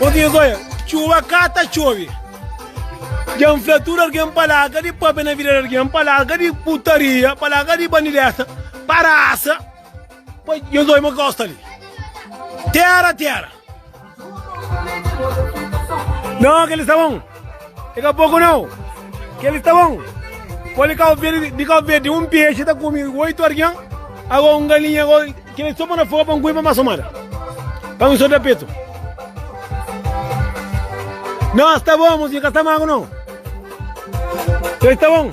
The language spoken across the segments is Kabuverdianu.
Obi es oia, txuba ka ta txobi. Dja N fla tudu algen pa larga di pâpia na vida di algen, pa larga di putaria, pa larga di bandidesa, pa rasa, pa nhos oia ma gosta li. Tera, tera. Não, aquele sabão. E ka poku nau, kel ki ta bon, pol di Kau Verdi, di Kau Verdi un piexe ta kumi oitu argen, ago un galinha, ago kel ki so po na fogu pa N kumi pa masa mada, pa mi so da petu. Nos ta bon, mosinha, ka sta magu nau. Kel ki ta bon.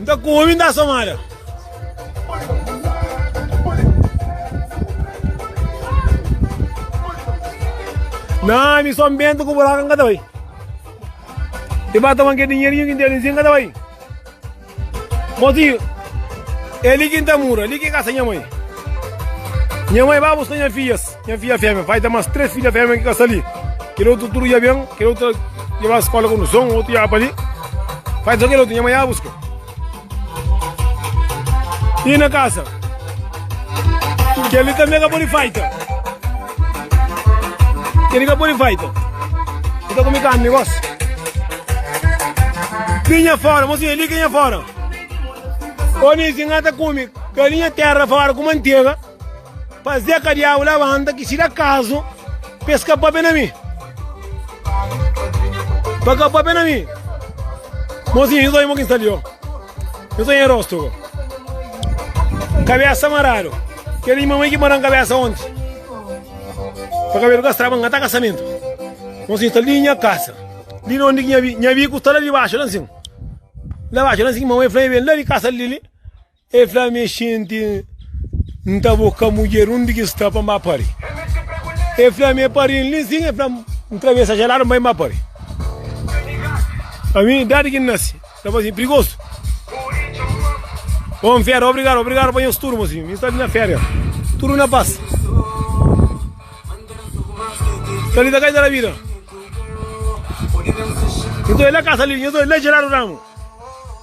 N ta ku omi, N ta somada. Na ami son bentu ku buraku n ka ta bai. I ba toma ke dinherinhu ki n tene si n ka ta bai. Motinhu, é li ki n ta mura, li ki é kasa nha mãe. Nha mãe ba buska nha fidjas. Nha fidja fémia bai da mas três fidja fémia ki ka sta li. Kel otu tudu dja ben, kel otu dja bai skola ku nson, otu dja bai pa li. Fai so kel otu nha mai dja buska. I na kasa. Kel-li tanbe ka pode faita. Kel-li ka pode faita. I ta kumi karni gos. Li nha fora, mosinha, li ki nha fora. Oni si nga ta kumi galinha terra fora ku mantega. Pazê ka diabu labanta ki si da kazu pa es ka papia na mi. Pa ka papia na mi. Mozinho, nhos oi mo ki nsta li ó. Nhos oi en rosto ko. Kabesa maradu. Keli nha mamai ki maran kabesa onti. Pa kabelu ka straba ngata kasamento. Mozinho sta li nha kasa. Li na ondi ki nha bi, nha biku sta la di baxu la nsin. La baxu la nsin mamai fla nha ben la di kasa li li. El fla mi, Xinti, N ta bo ka mudjer undi ki sta pa N ba pari. El fla mi, E pari-m li sin. El fla-m, N travesa dja ladu, N bai N ba pari. Ami, dadi ki N nase, N ta faze prigosu. Bon féria, obrigadu, obrigadu pa nhos tudu, mos ami. Mi sta li na féria, tudu na pas. Sta li ta kai ta da vida. Nhos doi la kasa li, nhos doi la dja ladu ramu.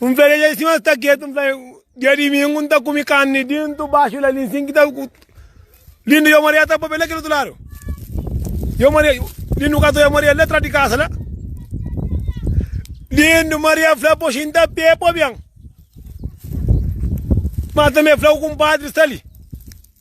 Un fla dja si mas ta ketu un fla dia dimingu un ta kumi carni dintu baxu la linsin ki ta lindu yo maria ta papia la kil otu lado yo maria lindu ka ta yo maria la tra di casa la lindu maria fla poxin ta pé pobian mas também fla o compadre sali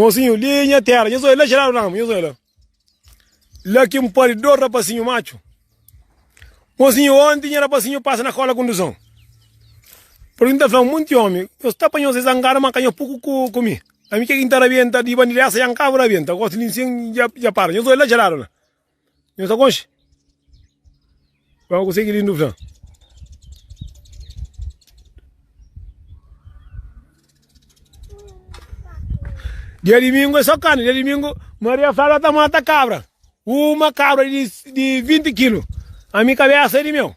Mozinhu, li nha tera, nhos oi la jeradu na amu, nhos oi la. La ki N padi dos rapasinhu matxu. Mozinhu, onti nha rapasinhu pasa na kola kunduzon. Pur ki N ta fla-u, munti omi, nhos ta panha-u se zangadu, ma ka nha puku ku mi. Ami, ke ki N ta rabienta di bandida esa? Nha ka bu rabienta, gosi li N sen dja para. Nhos oi la jeradu na. Nhos ta konxe? Ba ma konsegi lindu fla. Dia domingo é só carne. Dia domingo, Maria fala tá mata cabra. Uma cabra de, de 20 quilos. A minha cabeça é de meu.